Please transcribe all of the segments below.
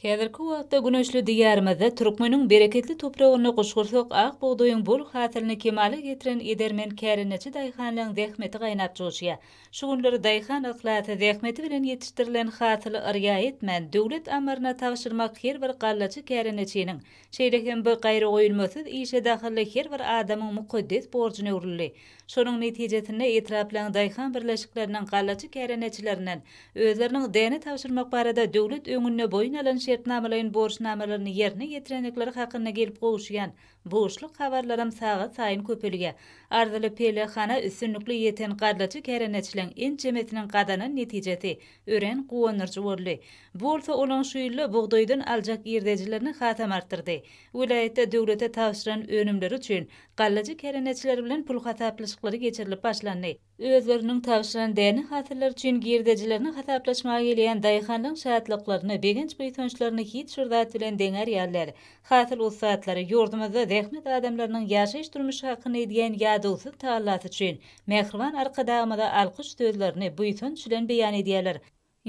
Häzirki wagtda güneşli Diýarymyzda türkmeniň bereketli topragynda guşgursak ak bugdaýyň bol hasylyny kemala getiren edermen kärendeçi daýhanlaň zähmeti gaýnap joşýar. Şu günler daýhan yhlasy, zähmeti bilen ýetişdirilen hasyly yrýa etmän, döwlet ammaryna tabşyrmak her bir gallaçy kärendeçiniň Şeýle hem bu gaýragoýulmasyz işe dahylly her bir adamyň mukaddes borjuna öwrüldi. Şonuň netijesinde etraplaryň daýhan birleşikleriniň gallaçy kärendeçilerinden özleriniň däne tabşyrmak barada döwlet öňünde boýun alan şertnamalaýyn borçnamalaryny ýerine ýetirendikleri hakynda gelip gowuşýan buşluk habarlaram sagatsaýyn köpelýär. Arzyly pellehana üstünlikli ýeten gallaçy kärendeçileň ençemesiniň gazanan netijesi Örän guwandyryjy boldy. Bu bolsa olaň şu ýylda bugdaýdan aljak girdejilerini hasam artdyrdy. Welaýatda döwlete tabşyran önümleri üçin gallajy kärendeçiler bilen pul hasaplaşyklary geçirilip başlandy. Özleriniň tabşyran däne hasyllar üçin girdejilerini hasaplaşmaga gelýän daýhanlaryň şatlyklaryny, begenç-buýsançlaryny hiç bir zat bilen deňär ýaly däl. Hasyl ussatlary ýurdumyzda zähmet adamlarynyň ýaşaýyş-durmuş hakyna edýän ýadawsyz tagallasy üçin mähriban Arkadagymyza alkyş sözlerini buýsanç bilen beýan edýärler.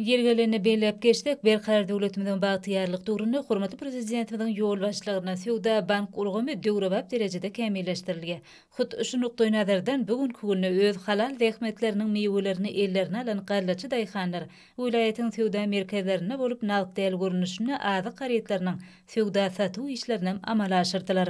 Ýeri gelende belläp geçsek, berkarar döwletimiziň bagtyýarlyk döwründe hormatly Prezidentimiziň ýolbaşçylygynda söwda-bank ulgamy döwrebap derejede kämilleşdirilýär. Hut şu nukdaýnazardan bu günki günde öz halal zähmetleriniň miwelerini ellerine alan gallaçy daýhanlar welaýatyň söwda merkezlerinde bolup nagt däl görnüşinde azyk harytlarynyň söwda-satuw işlerinem amala aşyrdylar.